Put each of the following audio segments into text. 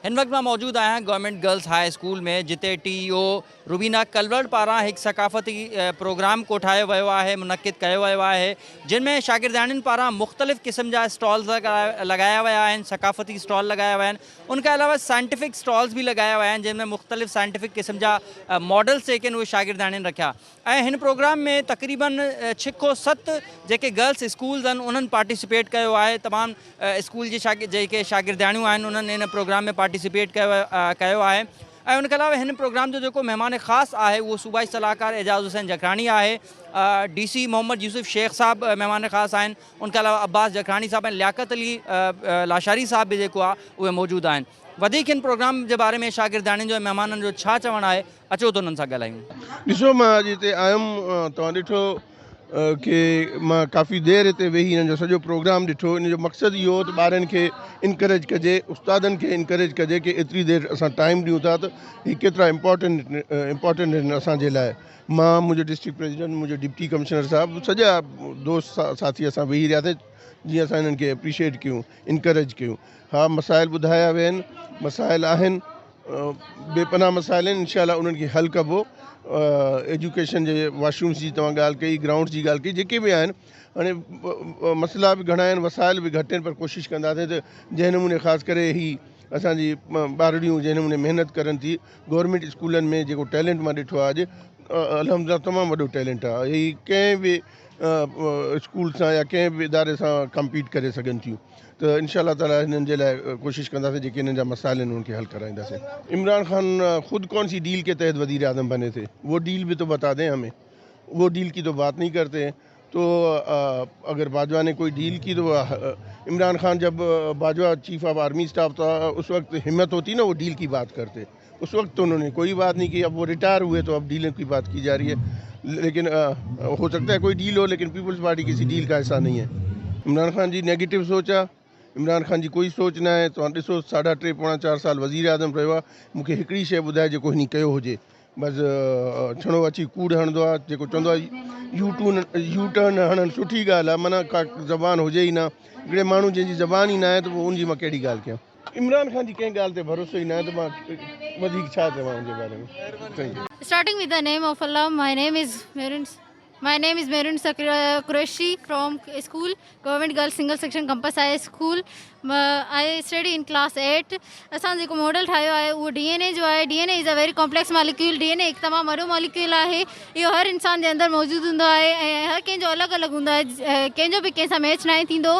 هن وقت مان موجود آهيان گورنمينٽ گرلز هاء اسڪول ۾ جتي ٽي اي او روبينا ڪلورڊ پاران هڪ ثقافتي پروگرام ڪوٺايو ويو آهي منعقد ڪيو ويو آهي جن ۾ شاگردياڻين پاران مختلف قسم جا اسٽالز لڳايا ويا آهن ثقافتي اسٽال لڳايا ويا آهن ان کان علاوه سائنٽيفڪ اسٽالز به لڳايا ويا آهن جن ۾ مختلف سائنٽيفڪ قسم جا ماڊلز جيڪي آهن اهي شاگردياڻين رکيا ۽ هن پروگرام ۾ تقريباً ڇهه کان ست جيڪي گرلس اسڪولز آهن انهن پارٽيسپيٽ ڪيو آهي تمام اسڪول جي شاگرد جيڪي شاگردياڻيون آهن انهن هن پروگرام ۾ پارٽيسپيٽ ڪيو ڪيو آهي ۽ ان کان علاوه هن پروگرام جو جيڪو مهمان خاص آهي اهو صوبائي صلاحڪار اعجاز حسين جکراڻي آهي ڊي سي محمد يوسف شيخ صاحب مهمان خاص آهن ان کان علاوه عباس جکراڻي صاحب ۽ لياقت علي لاشاري صاحب به جيڪو آهي اهي موجود آهن وڌيڪ هن پروگرام جي باري ۾ شاگردياڻين جو ۽ مهمانن جو ڇا چوڻ آهي اچو ته انهن سان ڳالهايون. ڏسو مان اڄ هتي آيم توهان ڏٺو ڪي مان ڪافي دير هتي ويهي هنن جو سڄو پروگرام ڏٺو ان جو مقصد اهو هو ته ٻارن کي انڪريج ڪجي استادن کي انڪريج ڪجي ڪي ايتري دير اسان ٽائيم ڏيون ٿا ته هي ڪيترا امپورٽنٽ امپورٽنٽ آهن اسان جي لاء مان منهنجو ڊسٽرڪٽ پريزيڊنٽ منهنجو ڊپٽي ڪمشنر صاحب سڄا دوست ساٿي اسان ويهي رهياسين جيئن اسان هنن کي اپريشيئيٽ ڪيون. انڪريج ڪيو ها مسائل ٻڌايا ويا آهن مسائل آهن بي پناهه مسائل آهن انشاء الله انهن کي حل ڪبو ايجوڪيشن جي واش رومس جي توهان ڳالهه ڪئي گرائونڊس جي ڳالهه ڪئي جيڪي به آهن هاڻي مسئلا به گهڻا آهن وسائل به گهٽ آهن پر ڪوشش ڪنداسين ته جنهن نموني خاص ڪري هي اسانجي ٻارڙيون جنهن نموني محنت ڪرن ٿي گورنمنٽ اسڪولن ۾ جيڪو ٽيلنٽ مان ڏٺو آهي اڄ الحمدلله تمام وڏو ٽيلنٽ آهي هي ڪنهن به اسڪول سان يا ڪنهن به اداري سان ڪمپيٽ ڪري سگهن ٿيون ته انشاء الله تعالٰي هنن جي لاء ڪوشش ڪنداسين جيڪي هنن جا مسائل آهن انهن کي حل ڪرائينداسين عمران خان خود ڪون سي ڊيل ڪي تحت وزير اعظم بني ٿي وو ڊيل به تو بتا دين همين وو ڊيل ڪي تو بات نهي ڪرتي تو اگر باجوا ني ڪوئي ڊيل ڪي تو عمران خان جب Bajwa chief of army staff تھا اس وقت همت هوتي نه وو ڊيل ڪي بات ڪرتي اس وقت تو انھون ني ڪوئي بات نھين ڪي اب وو ريٽائر ھوئي تو اب ڊيلون ڪي بات ڪي جارھي ھي ليڪن ھو سڪتا ھي ڪوئي ڊيل ھو ليڪن پيپلز پارٽي ڪسي ڊيل ڪا حصا نھين ھي عمران خان جي نيگيٽو سوچ ھا عمران خان جي ڪوئي سوچ نه آھي توھان ڏسو ساڍا ٽي پوڻا چار سال وزير اعظم رھيو ھا مون کي ھڪڙي شئي ٻڌاء جيڪو ھني ڪيو ھجي بس ڇڻو اچي ڪوڙ ھڻندو آ جيڪو چوندو آ يو ٽون يو ٽرن ھڻڻ سٺي ڳالھ آ منھن ڪا زبان ھجي ئي نه ھڪڙي ماڻھو جنھن جي زبان ئي نه آھي ته پوء ان جي مان ڪھڙي ڳالھ ڪيان عمران خان جي ڪنهن ڳالهه تي ڀروسو ئي ناهي ته مان وڌيڪ ڇا چوان ان جي باري ۾. Starting with the name of Allah my name is Mehrin my name is Mehrin Qureshi from school Government Girls Single Section Campus High School I study in class eight اسان جيڪو ماڊل ٺاهيو آهي اهو ڊي اين اي جو آهي D N A is a very complex molecule D N A هڪ تمام وڏو ماليڪيول آهي اهو هر انسان جي اندر موجود هوندو آهي ۽ هر ڪنهن جو الڳ الڳ هوندو آهي ڪنهن جو به ڪنهن سان ميچ ناهي ٿيندو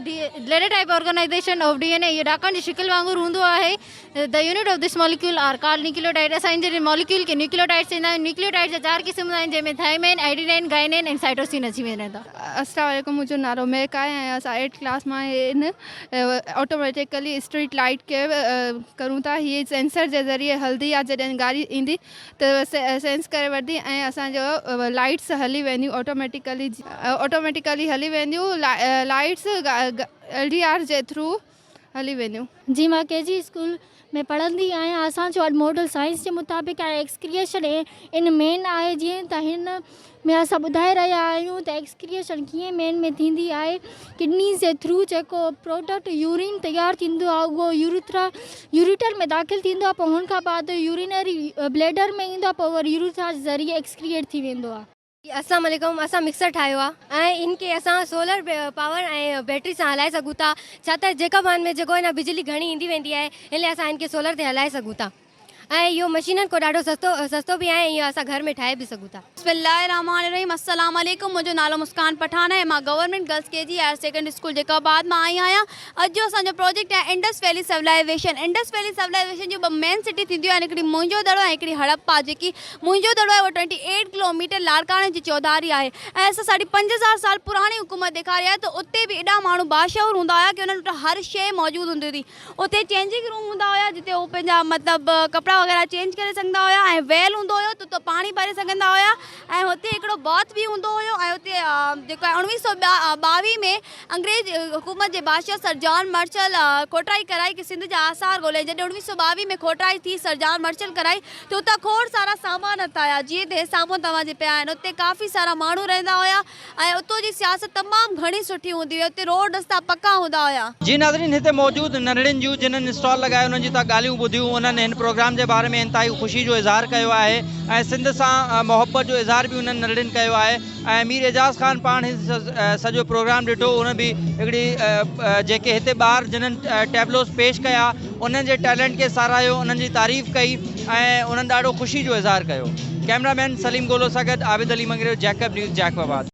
the ladder type organisation of D N A اهو ڏاڪڻ جي شڪل وانگر هوندو آهي the unit of this molecule are called nucleotide اسان ان جي ماليڪيول کي نيوڪليوٽائيڊ چوندا آهيون نيوڪليوٽائيڊ جا چار قسم آهن جنهن ۾ ٿائمين ائڊينين گائنين ۽ سائٽوسين اچي وڃن ٿا السلام عليڪم منهنجو نالو مهڪ آهي ۽ اسان ايٽ ڪلاس مان هن آٽوميٽيڪلي اسٽريٽ لائيٽ کي ڪرون ٿا هي سينسر جي ذريعي هلندي آهي جڏهن گاڏي ايندي ته سينس ڪري وٺندي ۽ اسان جو لائيٽس هلي وينديون آٽوميٽيڪلي آٽوميٽيڪلي هلي وينديون لائيٽس ايل ڊي آر جي ٿرو هلي وينديون. جي مان ڪي جي اسڪول ۾ پڙهندي آهيان اسان جو اڄ ماڊل سائنس جي مطابق ۽ ايڪسڪريشن ان مين آهي جيئن ته هن ۾ اسان ٻڌائي رهيا آهيون ته ايڪسڪريشن ڪيئن مين ۾ ٿيندي آهي ڪڊنيز جي ٿرو جيڪو پروڊڪٽ يورين تيار ٿيندو آهي اهو يوريٿرا يوريٽر ۾ داخل ٿيندو آهي پوء ان کان بعد يورينري بليڊر ۾ ايندو آهي پوء وري يوريٿرا جي ذريعي ايڪسڪريئيٽ ٿي ويندو آهي. السلام عليڪم اسان مڪسر ٺاهيو آهي ۽ ان کي اسان سولر پاور ۽ بيٽري سان هلائي سگهون ٿا ڇا ته جيڪب وان ۾ جيڪو هي نه بجلي گهڻي ايندي ويندي آهي ان لاء اسان ان کي سولر تي هلائي سگهون ٿا. ۽ اهو مشينن کان ڏاڍو سستو سستو به آهي ۽ اهو اسان گهر ۾ ٺاهي به سگهون ٿا. بسم الله الرحمٰن الرحيم السلام عليڪم منهنجو نالو مسڪان پٺاڻ آهي مان گورنمينٽ گرلس ڪي جي higher secondary school Jacobabad مان آئي آهيان اڄ جو اسان جو پروجيڪٽ آهي Indus valley civilisation Indus valley civilisation جون ٻه مين سٽي ٿينديون آهن هڪڙي موئنجو دڙو ۽ هڪڙي هڙپا جيڪي موئنجو دڙو آهي اهو ٽوئنٽي ايٽ ڪلو ميٽر لاڙڪاڻي جي چوڌاري آهي ۽ اسان ساڍي پنج هزار سال پراڻي حڪومت ڏيکاري آهي ته اتي به ايڏا ماڻهو باشعور هوندا هيا ڪي انهن وٽ هر شيء موجود هوندي هئي اتي چينجنگ روم هوندا هيا جتي هو پنهنجا مطلب ڪپڙا وغيره چينج ڪري سگهندا هيا ۽ ويل هوندو هيو تتو پاڻي ڀري سگهندا هيا ۽ هتي هڪڙو باٿ به هوندو هيو ۽ اتي جيڪو آهي اوڻويهه سو ٻاويهه ۾ انگريز حڪومت جي بادشاهه سر جان مرچل کوٽرائي ڪرائي ڪي سنڌ جا آثار ڳولهيائين جڏهن اوڻويهه سو ٻاويهه ۾ کوٽرائي ٿي سر جان مرچل ڪرائي ته اتان کوڙ سارا سامان هٿ آيا جيئن ته هي سامهون توهان جي پيا آهن اتي ڪافي سارا ماڻهو رهندا هيا ۽ اتو جي سياست تمام گهڻي سٺي هوندي هئي اتي روڊ رستا پڪا هوندا هيا. جي ناظرين هتي موجود ننڍڙين جون جنھن اسٽال لڳائي انھن جون تھان ڳالھيون ٻڌيون انھن ھن پروگرام جي باري ۾ انتھائي خوشي جو اظھار ڪيو آھي ۽ سنڌ سان محبت جو اظھار به انھن ننڍڙين ڪيو آھي ۽ مير اعجاز خان پاڻ ھي سڄو پروگرام ڏٺو انھن به ھڪڙي جيڪي ھتي ٻار جنھن ٽيبلوز پيش ڪيا انهن جي ٽيلنٽ کي ساراهيو، انهن جي تعريف ڪئي ۽ انهن ڏاڍو خوشي جو اظهار ڪيو. ڪيمرا مين سليم گولو سان گڏ Abid Ali Mangrio Jacob news Jacob آباد.